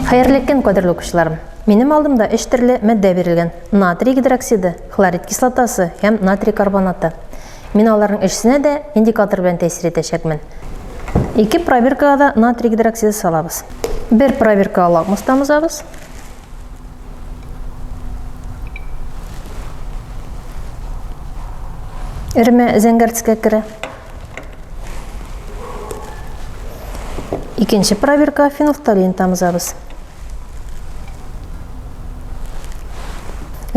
Хәерле көн, кадерле укучыларым! Минем алдымда өч төрле матдә бирелгән: натрий гидроксиды, хлорид кислотасы һәм натрий карбонаты. Мин аларның өчесенә дә индикатор белән тәэсир итәчәкмен. Ике пробиркага да натрий гидроксиды салабыз. Бер пробиркага лакмус тамызабыз. Эремә зәңгәр төскә керә. Икенче пробиркага фенолфталин тамызабыз.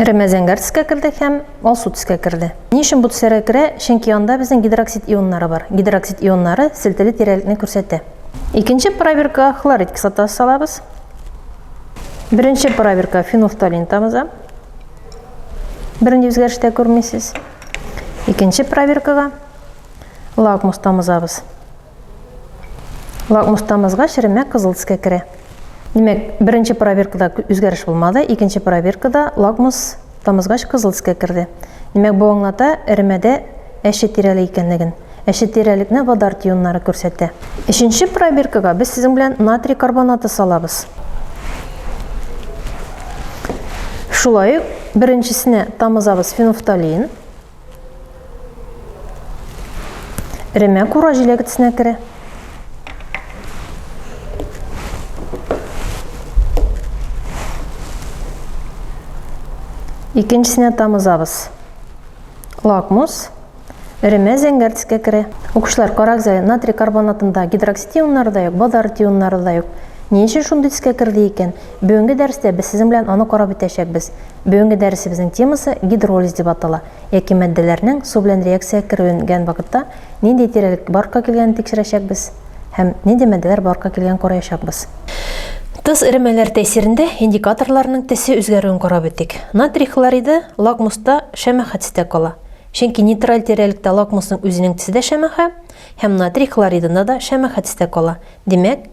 Эремә зәңгәр төскә керде һәм алсу төскә керде. Ни өчен бу төсләргә керә? Чөнки анда безнең гидроксид ионнары бар. Гидроксид ионнары селтәле тирәлекне күрсәтә. Икенче пробиркага хлорид кислотасы салабыз. Беренче пробиркага фенолфталин тамыза. Бернинди үзгәреш тә күрмисез. Икенче пробиркага лакмус тамызабыз. Лакмустамызга черемә кызыл төскә керә. Димәк, беренче проверкада үзгәреш булмады, икенче проверкада лакмус тамызгач кызыл төскә керде. Димәк, бу аңлата эремәдә әче тирәле икәнлеген. Әче тирәлекне водар тионнары күрсәтә. Өченче проверкага без сезнең белән натрий карбонаты салабыз. Шулай ук беренчесенә тамызабыз фенофталин. Эремә кура җиләгетсенә керә. Икенчесенә тамызабыз. Лакмус. Эремә зәңгәр төскә керә. Укучылар, карагыза, натрий карбонатында гидроксид ионнары да юк, базар ионнары да юк. Ни өчен шундый төскә керде икән? Бүгенге дәрестә без сезнең белән аны карап үтәчәкбез. Бүгенге дәресебезнең темасы гидролиз дип атала, яки матдәләрнең су белән реакциягә керүенгән вакытта нинди тирәлек баркка килгәнен тикшерәчәкбез һәм нинди матдәләр баркка килгәнен караячакбыз. Тоз эремәләре тәэсирендә индикаторларның төсе үзгәрүен карап үтик. Натрий хлориды лакмуста шәмәхә төстә кала, чөнки нейтраль тирәлектә лакмусның үзенең төсе дә шәмәхә һәм натрий хлоридында да шәмәхә төстә кала, димәк,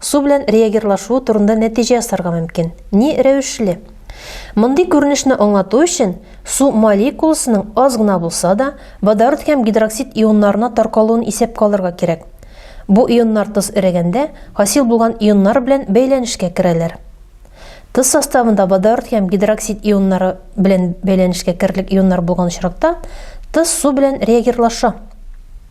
Су белән реагирлашуы турында нәтиҗә ясарга мөмкин. Ни рәвешле? Мондый күренешне аңлату өчен су молекуласының аз гына булса да водород һәм гидроксид ионнарына таркалуын исәпкә алырга кирәк. Бу ионнар тоз эрегәндә хасил булган ионнар белән бәйләнешкә керәләр. Тоз составында водород һәм гидроксид ионнары белән бәйләнешкә керерлек ионнар булган очракта тоз су белән реагирлаша.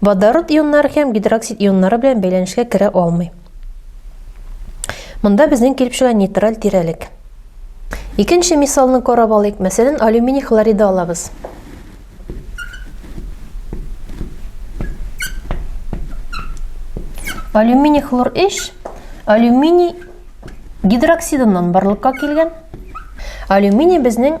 Водород ионнары һәм гидроксид ионнары белән бәйләнешкә керә алмый. Монда безнең килеп чыга нейтраль тирәлек. Икенче мисалны карап алыйк. Мәсәлән, алюминий хлориды алабыз. Алюминий хлор эш, алюминий гидроксидыннан барлыкка килгән. Алюминий безнең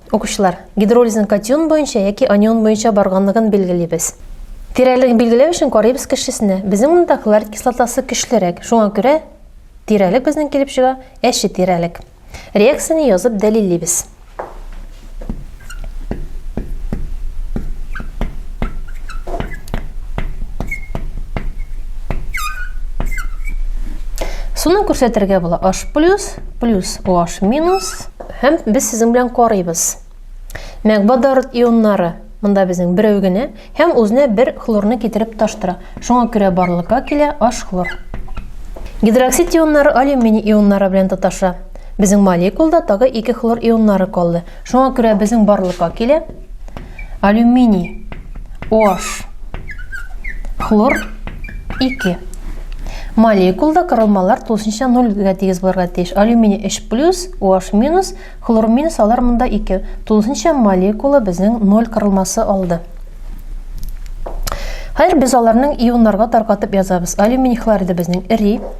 Укучылар, гидролизның катион буенча яки анион буенча барганлыгын билгелибез. Тирәлеген билгеләү өчен карыйбыз кешесенә. Безнең монда хлорид кислотасы көчлерәк, шуңа күрә тирәлек безнең килеп чыга әче тирәлек. Реакцияне язып дәлиллибез. Суны күрсәтергә була H+, плюс OH-. Һәм без сезнең белән карыйбыз. Мәгбадарыт ионнары монда безнең берәү генә һәм үзенә бер хлорны китереп таштыра. Шуңа күрә барлыкка килә H хлор. Гидроксид ионнары алюминий ионнары белән тоташа. Безнең молекулда тагы ике хлор ионнары калды. Шуңа күрә безнең барлыкка килә Алюминий OH хлор 2. Молекулда кырылмалар тулысынча 0 гә тигез булырга тиеш. Алюминий 3 плюс, OH минус, хлор минус алар монда 2. Тулысынча молекула безнең 0 кырылмасы алды. Хәзер без аларның ионнарга таркатып язабыз. Алюминий хлориды безнең эри.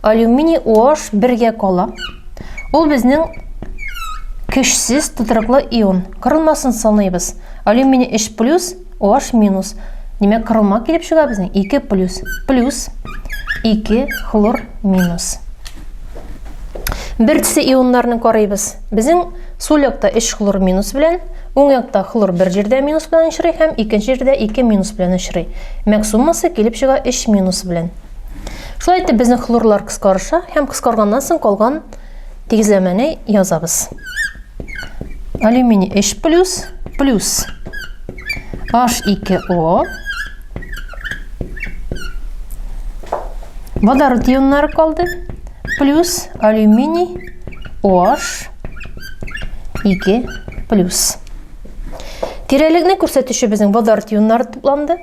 Алюминий OH бергә кала. Ул безнең көчсез тутырыклы ион. Кырылмасын саныйбыз. Алюминий 3 плюс, OH минус. Димәк, кырылма килеп чыга безнең 2 плюс. Плюс 2 хлор минус. Бер төсе ионнарны карыйбыз. Безнең сул якта 3 хлор минус белән, уң якта хлор бер җирдә минус белән очрый һәм икенче җирдә 2 минус белән очрый. Мәк суммасы килеп чыга 3 минус белән. Шулай итеп безнең хлорлар кыскарыша һәм кыскарганнан соң калган тигезләмәне язабыз. Алюминий H+, плюс H2O водород ионнары калды плюс алюминий OH 2 плюс тирәлекне күрсәтүче безнең водород ионнары тупланды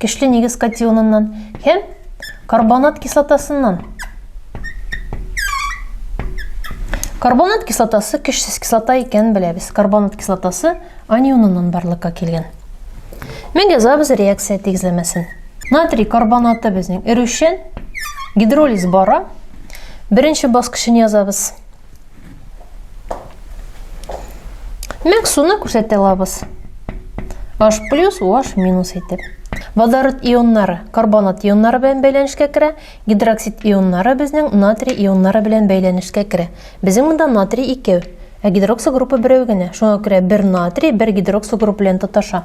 Көчле нигез катионыннан һәм карбонат кислотасыннан. Карбонат кислотасы көчсез кислота икәнен беләбез. Карбонат кислотасы анионыннан барлыкка килгән. Мин язабыз реакция тигезләмәсен. Натрий карбонаты безнең эрүчән, гидролиз бара. Беренче баскычын язабыз. Мәк суны күрсәтә алабыз. H плюс, OH минус итеп. Водород ионнары карбонат ионнары белән бәйләнешкә керә, гидроксид ионнары безнең натрий ионнары белән бәйләнешкә керә. Безнең монда натрий икәү, ә гидроксо группа берәү генә. Шуңа күрә бер натрий, бер гидроксо групп белән тоташа.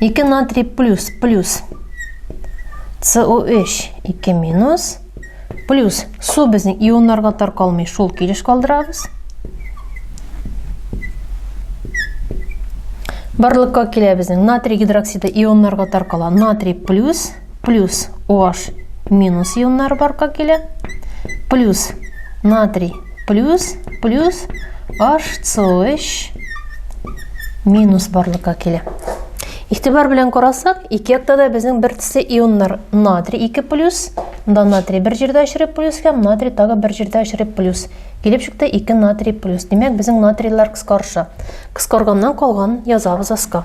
2 натрий плюс, плюс. CO3 2 минус. Плюс су безнең ионнарга таркалмый, шул килеш калдырабыз. Барлыкка килә безнең натрий гидроксиды ионнарга таркала. Натрий плюс плюс OH минус ионнары барка килә, плюс натрий плюс плюс HCOH минус барлыкка килә. Ихтибар белән карасак, ике якта да безнең бер төсле ионнар натрий 2 плюс, да натрий бер җирдә очрып плюс һәм натрий тагы бер җирдә очрып плюс. Килеп чыкты 2 натрий плюс. Димәк, безнең натрийлар кыскарыша. Кыскарганнан калган язабыз аска.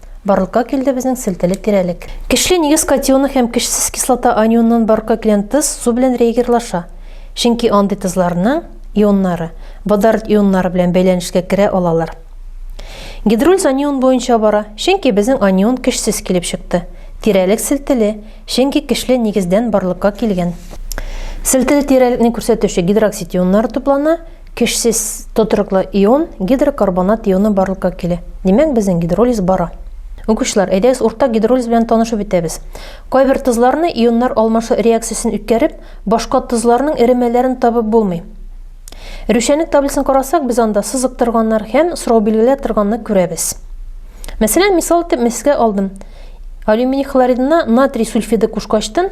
Барлыкка килде безнең селтәле тирәлек. Көчле нигез катионы һәм көчсез кислота анионнан барлыкка килгән тоз су белән реагирлаша, чөнки андый тозларның ионнары водород ионнары белән бәйләнешкә керә алалар. Гидролиз анион буенча бара, чөнки безнең анион көчсез килеп чыкты. Тирәлек селтәле, чөнки көчле нигездән барлыкка килгән. Селтәле тирәлекне күрсәтүче гидроксид ионнары туплана, Көчсез тотрыклы ион, гидрокарбонат ионы барлыкка килә. Димәк, безнең гидролиз бара. Укучылар, әйдәгез уртак гидролиз белән танышып үтәбез. Кайбер тозларны ионнар алмашу реакциясен үткәреп, башка тозларның эремәләрен табып булмый. Рүшәнлек таблицасын карасак, без анда сызык торганнар һәм сорау билгеләр торганны күрәбез. Мәсәлән, мисал итеп меске алдым. Алюминий хлоридына натрий сульфиды кушкачтын,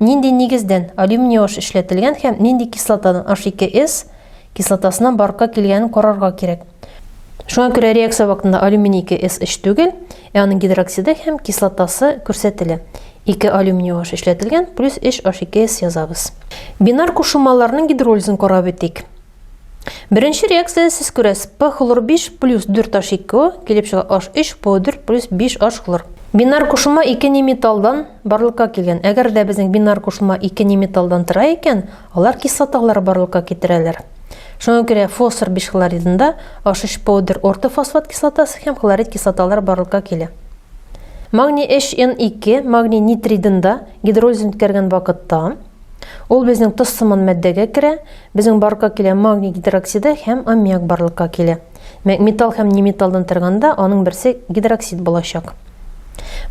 Нинди нигездән алюминий-аш эшләтелгән һәм нинди кислотадан H2S кислотасына барка килгәнен карарга кирәк. Шуңа күрә реакция вакытында алюминий 2S эш түгел, ә аның гидроксиды һәм кислотасы күрсәтелә. 2 алюминий аш эшләтелгән, плюс 3 H2S язабыз. Бинар кушылмаларның гидролизын карап үтик. Беренче реакция сез күрәсез P хлор 5 плюс 4 H 2 килеп чыга H 3 P 4 плюс 5 H хлор. Бинар кушылма ике не металлдан барлыкка килгән. Әгәр дә безнең бинар кушылма ике не металлдан тора икән, алар кислоталар барлыкка китерәләр. Шуңа күрә фосфор бишхлоридында H3 powder ортофосфат кислотасы һәм хлорид кислоталар барлыкка килә. Магний HN2 магний нитридында гидролизын үткәргән вакытта Ул безнең тоз сыман матдәгә керә, безнең барлыкка килә магний гидроксиды һәм аммиак барлыкка килә. Металл һәм неметаллдан торганда аның берсе гидроксид булачак.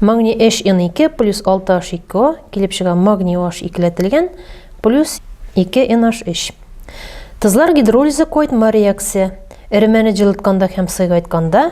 Магний HN2 плюс 6H2O килеп чыга магний OH икеләтелгән плюс 2NH3. Тозлар гидролизы койтма реакция. Эремәне җылытканда һәм сыйгайтканда